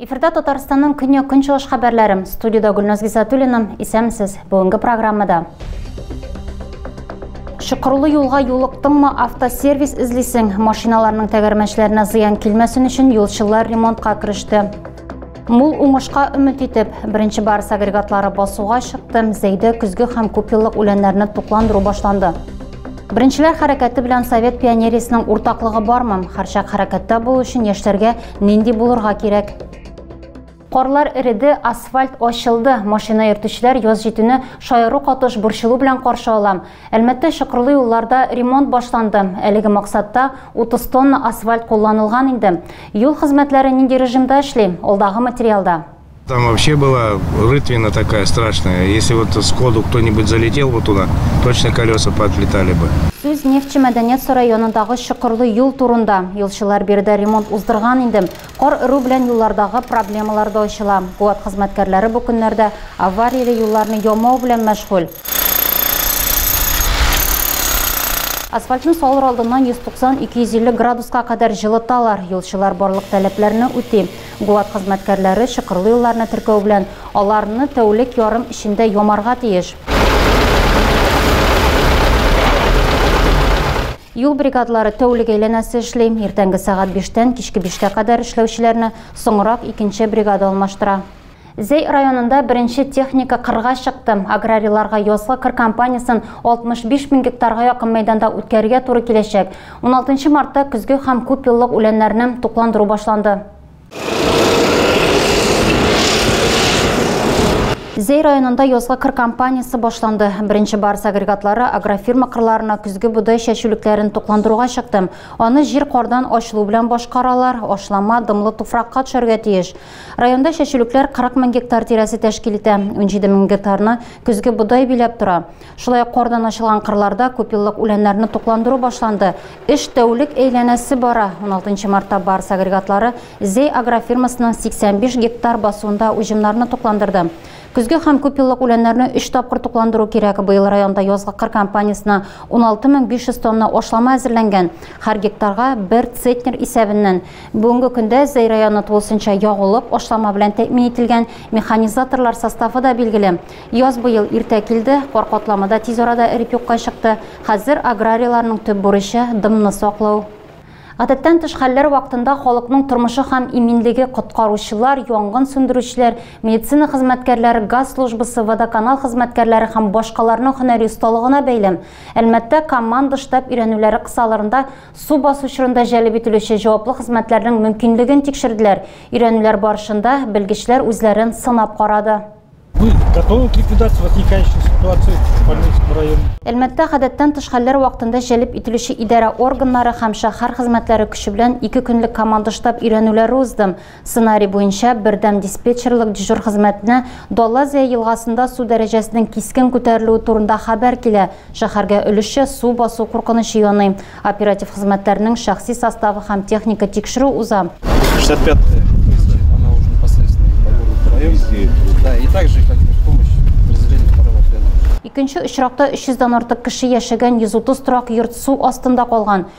Эфирда Татарстанның көньяк көнчыгыш хәбәрләрем. Студиядә Гөлназ Гисатуллина. Исәмсез. Бүгенге программада. Чокырлы юлга юлыктыңмы, автосервис эзлисең. Машиналарның тәгәрмәчләренә зыян килмәсен өчен юлчылар ремонтка кереште. Мул уңышка өмет итеп, беренче барыс агрегатлары басуга чыкты, музейда көзге һәм күпьеллык үләннәрне тукландыру башланды. Беренчеләр хәрәкәте белән совет пионериясенең уртаклыгы бармы? Хәрчак хәрәкәттә булу өчен яшьләргә нинди булырга кирәк? Карлар эреде, асфальт ачылды. Машина йөртүчеләр яз җитүне шаяру катыш борчылу белән каршы ала. Әлмәттә чокырлы юлларда ремонт башланды. Әлеге максатта 30 тонна асфальт кулланылган инде. Юл хезмәтләре нинди режимда эшли? Алдагы материалда. Там вообще была рытвина такая страшная, если вот сходу кто-нибудь залетел бы туда, точно колеса поотлетали бы. Сүз Нефтьче мәдәният сарае янындагы чокырлы юл турында. Юлчылар биредә ремонт уздырган инде. Кар эрү белән юллардагы проблемалар да ачыла. ГУАП хезмәткәрләре бу көннәрдә аварияле юлларны ямау белән мәшгуль. Асфальтны салыр алдыннан 190-250 градуска кадәр җылыталар. Юлчылар барлык таләпләрне үти. ГУАТ хезмәткәрләре чокырлы юлларны теркәү белән, аларны тәүлек ярым эчендә ямарга тиеш. Юл бригадлары тәүлек әйләнәсе эшли. Иртәнге сәгать биштән кичке бишкә кадәр эшләүчеләрне соңрак икенче бригада алмаштыра. Зәй районында беренче техника кырга чыкты. Аграрийларга язгы кыр кампаниясен 65 мең гектарга якын мәйданда үткәрергә туры киләчәк. Уналтынчы мартта көзге һәм күпьеллык үләннәрне тукландыру башланды. Зәй районында язгы кыр кампаниясе башланды. Беренче барс агрегатлары агрофирма кырларына көзге бодай чәчүлекләрен тукландыруга чыкты. Аны җир кардан ачылу белән башкаралар, ашлама дымлы туфракка төшәргә тиеш. Районда чәчүлекләр 40 мең гектар тирәсе тәшкил итә, 17 мең гектарны көзге бодай биләп тора. Шулай ук кардан ачылган кырларда күпьеллык үләннәрне тукландыру башланды. Эш тәүлек әйләнәсе бара. 16 мартта Барс агрегатлары Зәй агрофирмасының 85 гектар басуында уҗымнарны тукландырды. Көзге һәм күпьеллык үләннәрне өч тапкыр тукландыру кирәк. Быел районда язгы кыр кампаниясенә 16 мең 500 тонна ашлама әзерләнгән, һәр гектарга бер центнер исәбеннән. Бүгенге көндә Зәй районы тулысынча ягулык, ашлама белән тәэмин ителгән, механизаторлар составы да билгеле. Яз быел иртә килде, кар катламы да тиз арада эреп юкка чыкты. Хәзер аграрийларның төп бурычы, дымны саклау. Гадәттән тыш хәлләр вакытында халыкның тормышы һәм иминлеге коткаручылар, янгын сүндерүчеләр, медицина хезмәткәрләре, газ службасы, водоканал хезмәткәрләре һәм башкаларның һөнәри осталыгына бәйле. Әлмәттә команда-штаб өйрәнүләре кысалырында Су басу чорында җәлеп ителүче җаваплы хезмәтләрнең мөмкинлеген тикшерделәр. Өйрәнүләр барышында белгечләр үзләрен сынап карады. Мы готовы к ликвидации возникающих ситуаций в Пальминском районе. Әлмәттә гадәттән тыш хәлләр вакытында җәлеп ителүче идарә органнары һәм шәһәр хезмәтләре көче белән ике көнлек команда-штаб өйрәнүләре узды. Сценарий буенча, бердәм диспетчерлык дежур хезмәтенә Долазия елгасында су дәрәҗәсенең кискен күтәрелүе турында хәбәр килә, шәһәргә өлешчә су басу куркынычы яный. Оператив хезмәтләрнең шәхси составы һәм техника тикшерү уза. 65 е квартира она уже непосредственно по городу по району везде её передают да и также как бы в помощь подразделению второго отряда Икенче очракта 300 дан артык кеше яшәгән 130 торак йорт су астында калган.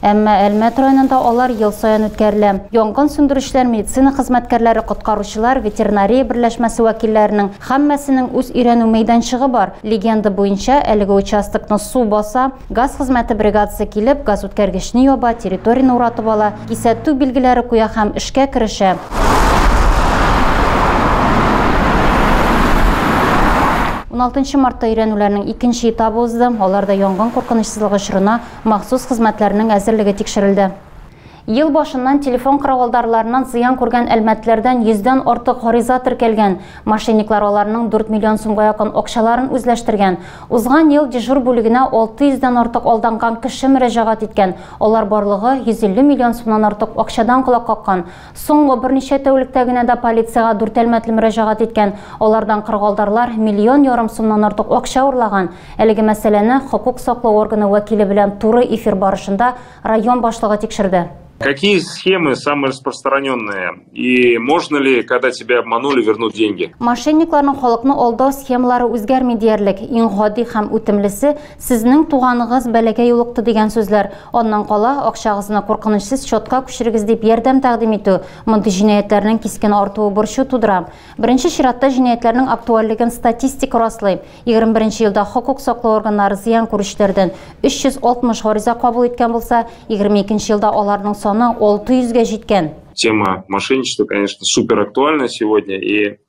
Әмма Әлмәт районында алар ел саен үткәрелә. Янгын сүндерүчеләр, медицина хезмәткәрләре, коткаручылар, ветеринария берләшмәсе вәкилләренең һәммәсенең үз өйрәнү мәйданчыгы бар. Легенда буенча, әлеге участокны су баса, газ хезмәте бригадасы килеп, газүткәргечне яба, территорияне уратып ала, кисәтү билгеләре куя һәм эшкә керешә. Уналтынчы мартта өйрәнүләрнең икенче этабы узды. Алар да янгын куркынычсызлыгы чорына Махсус хезмәтләрнең әзерлеге тикшерелде. Ел башыннан телефон кыравылдарларыннан зыян күргән әлмәтлеләрдән йөздән артык гариза теркәлгән, мошенниклар аларның дүрт миллион сумга якын акчаларын үзләштергән. Узган ел дежур бүлегенә 600 дән артык алданган кеше мөрәҗәгать иткән, алар барлыгы 150 миллион сумнан артык акчадан колак каккан. Соңгы берничә тәүлектә генә дә полициягә дүрт әлмәтле мөрәҗәгать иткән. Алардан кыргалтарлар миллион ярым сумнан артык акча урлаган. Әлеге мәсьәләне хокук саклау органы вәкиле белән туры эфир барышында район башлыгы тикшерде. Какие схемы самые распространенные и можно ли, когда тебя обманули, вернуть деньги? Мошенникларның халыкны алдау схемалары үзгәрми диярлек. Иң гади һәм үтемлесе, Сезнең туганыгыз бәләкәй юлыкты дигән сүзләр, аннан кала, акчагызны куркынычсыз счетка күчерегез дип ярдәм тәкъдим итү, мондый җинаятьләрнең кискен артуы борчу тудыра. Беренче чиратта җинаятьләрнең актуальлеген статистика раслый. Егерме беренче елда хокук саклау органнары зыян күрүчеләрдән 360 гариза кабул иткән булса, егерме икенче елда аларның саны 600 гә җиткән. Тема мошенничество, конечно, суперактуальна сегодня и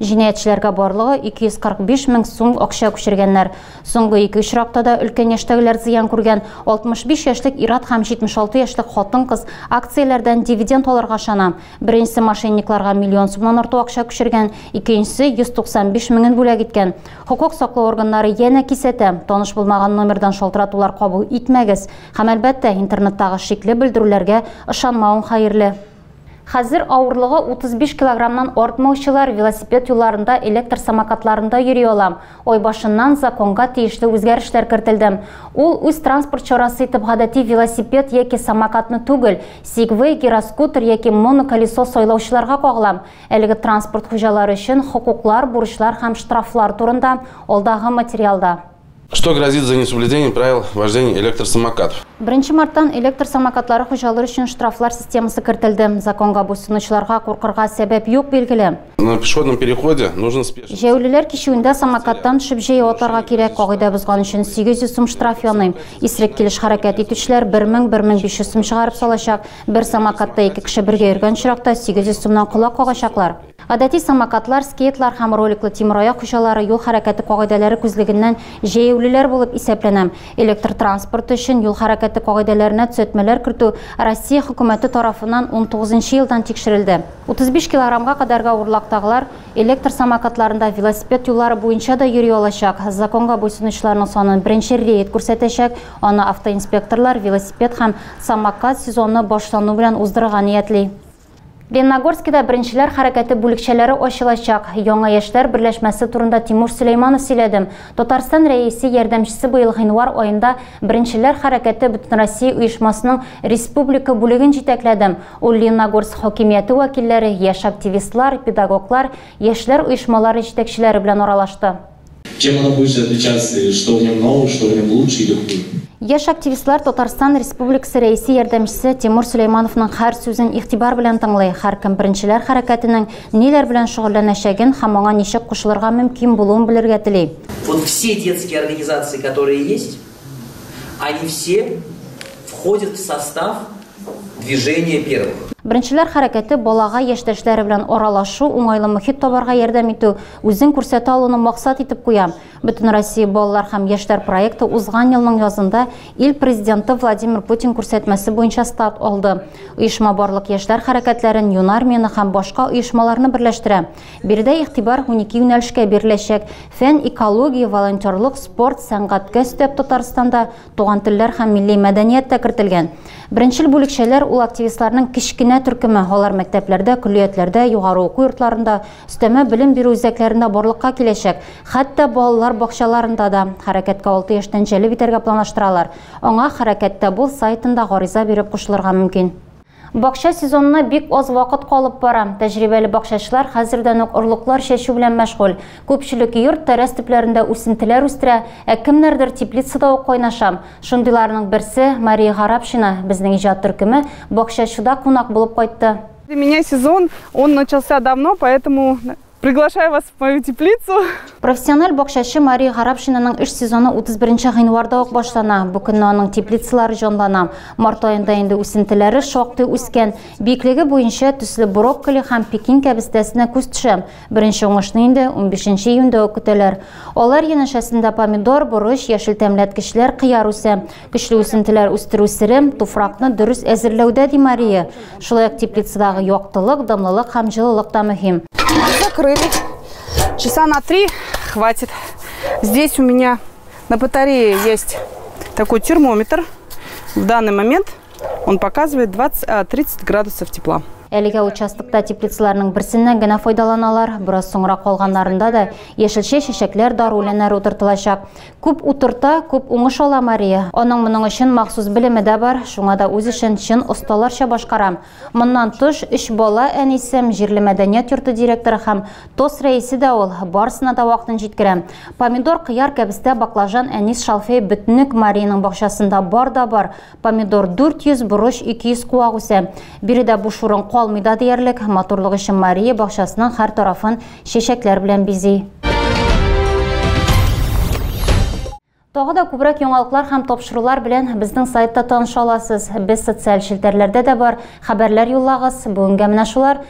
Җинаятьчеләргә барлыгы 245 мең сум акча күчергәннәр. Соңгы ике очракта да өлкән яшьтәгеләр зыян күргән. 65 яшьлек ир-ат һәм 76 яшьлек хатын-кыз акцияләрдән дивиденд алырга ышана. Беренчесе мошенникларга миллион сумнан артык акча күчергән, икенчесе 195 меңен бүләк иткән. Хокук саклау органнары янә кисәтә, таныш булмаган номердан шалтыратулар кабул итмәгез һәм, әлбәттә, интернеттагы шикле белдерүләргә ышанмавың хәерле. Хәзер авырлыгы 35 килограммнан артмаучылар велосипед юлларында, электр самокатларында йөри ала. Ай башыннан законга тиешле үзгәрешләр кертелде. Ул үз транспорт чарасы итеп гадәти велосипед яки самокатны түгел, сигвей, гироскутер яки моноколесо сайлаучыларга кагыла. Әлеге транспорт хуҗалары өчен хокуклар, бурычлар һәм штрафлар турында, алдагы материалда. Что грозит за несоблюдение правил вождения электросамокатов? Беренче марттан электр самокатлары хуҗалары өчен штрафлар системасы кертелде. Законга буйсынучыларга куркырга сәбәп юк, билгеле. На пешеходном переходе нужно спешно. Җәяүлеләр кичүендә самокаттан төшеп җәяү атларга кирәк. Кагыйдә бозган өчен 800 сум штраф яный. Исерек килеш хәрәкәт итүчеләр 1000-1500 сум чыгарып салачак. Бер самокатта ике кеше бергә йөргән очракта 800 сумнан колак кагачаклар. Гадәти самокатлар, скейтлар һәм роликлы тимераяк хуҗалары юл хәрәкәте кагыйдәләре күзлегеннән җәяүлеләр булып исәпләнә. Электр транспорты өчен юл хәрәкәте кагыйдәләренә төзәтмәләр кертү Россия Хөкүмәте тарафыннан 19 елдан тикшерелде. 35 килограммга кадәрге авырлыктагылар электр самокатларында велосипед юллары буенча да йөри алачак. Законга буйсынучыларның санын беренче рейд күрсәтәчәк, аны автоинспекторлар велосипед һәм самокат сезоны башлану белән уздырырга ниятли. Ленногорскида беренчеләр хәрәкәте бүлекчәләре ачылачак. Яңа яшьләр берләшмәсе турында Тимур Сөләйманов сөйләде. Татарстан Рәисе ярдәмчесе быел гыйнвар аенда Беренчеләр хәрәкәте Бөтенроссия оешмасының республика бүлеген җитәкләде. Ул Ленногорск хакимияте вәкилләре, яшь активистлар, педагоглар, яшьләр оешмалары җитәкчеләре белән аралашты. Чем оно будет отличаться и что в нем нового, что в нем лучше или хуже? Яшь активистлар Татарстан Республикасы Рәисе ярдәмчесе Тимур Сөләймановның һәр сүзен игътибар белән тыңлый, һәркем беренчеләр хәрәкәтенең ниләр белән шөгыльләнәчәген һәм аңа ничек кушылырга мөмкин булуын белергә тели. Вот все детские организации, которые есть, Они все входят в состав движения первых. Беренчеләр хәрәкәте балага яшьтәшләре белән аралашу, уңайлы мөхит табарга ярдәм итү, үзен күрсәтә алуны максат итеп куя. Бөтенроссия балалар һәм яшьләр проекты узган елның язында ил президенты Владимир Путин күрсәтмәсе буенча старт алды. Оешма барлык яшьләр хәрәкәтләрен, юнармияне һәм башка оешмаларны берләштерә. Биредә игътибар унике юнәлешкә биреләчәк, фән, экология, волонтерлык, спорт, сәнгать, газ төяп Татарстанда туган телләр һәм милли мәдәният тә кертелгән. Беренчел бүлекчәләр ул активистларның кечкенә төркеме, алар мәктәпләрдә, көллиятләрдә, югары уку йортларында, өстәмә белем бирү үзәкләрендә барлыкка киләчәк, хәтта балалар бакчаларында да. Хәрәкәткә алты яшьтән җәлеп итәргә планлаштыралар. Аңа Хәрәкәттә бул сайтында гариза биреп кушылырга мөмкин. Бакча сезонына бик аз вакыт калып бара. Тәҗрибәле бакчачылар хәзердән үк орлыклар чәчү белән мәшгуль. Күпчелек йорт тәрәз төпләрендә үсентеләр үстерә, ә кемнәрдер теплицада ук кайнаша. Шундыйларның берсе, Мария Гарапшина, безнең иҗат төркеме бакчачыда кунак булып кайтты. Для меня сезон, он начался давно, поэтому Приглашаю вас в мою теплицу. Профессиональ бакчачы Мария Гарапшинаның эш сезоны 31 гыйнварда ук башлана. Бу көнне аның теплицалары җанлана. Март аенда инде үсентеләре шактый үскән. Биеклеге буенча төсле брокколи һәм пекин кәбестәсенә күз төшә. Беренче уңышны инде 15 июньдә үк көтәләр. Алар янәшәсендә помидор, борыч, яшел тәмләткечләр, кыяр үсә. Көчле үсентеләр үстерү сере туфракны дөрес әзерләүдә, ди Мария. Шулай ук теплицадагы яктылык, дымлылык һәм җылылык та мөһим. Закрыли. Часа на три хватит. Здесь у меня на батарее есть такой термометр. В данный момент он показывает 20, а, 30 градусов тепла. Әлегә участокта теплицаларның берсеннән генә файдаланалар. Бераз соңра калганнарында да яшелчә чәчәкләр дару үләннәре утыртылачак. Күп утырта, күп уңыш ала Мария. Аның моның өчен махсус белеме дә бар, шуңа да үз эшен чын осталарча башкара. Моннан тыш, өч бала әнисе, җирле мәдәният йорты директоры һәм ТОС рәисе дә ул, барысына да вакытын җиткерә. Помидор, кыяр, кәбестә, баклажан, әнис, шалфей, бөтнек Мариянең бакчасында бар да бар. Помидор 400, борыч 200 куак үсә. Биредә буш урын калмый да диярлек. Матурлык өчен Мария бакчасының һәр тарафын чәчәкләр белән бизи. Тагы да күбрәк яңалыклар һәм тапшырулар белән безнең сайтта таныша аласыз. Без социаль челтәрләрдә дә бар. Хәбәрләр юллагыз. Бүгенгә менә шулар.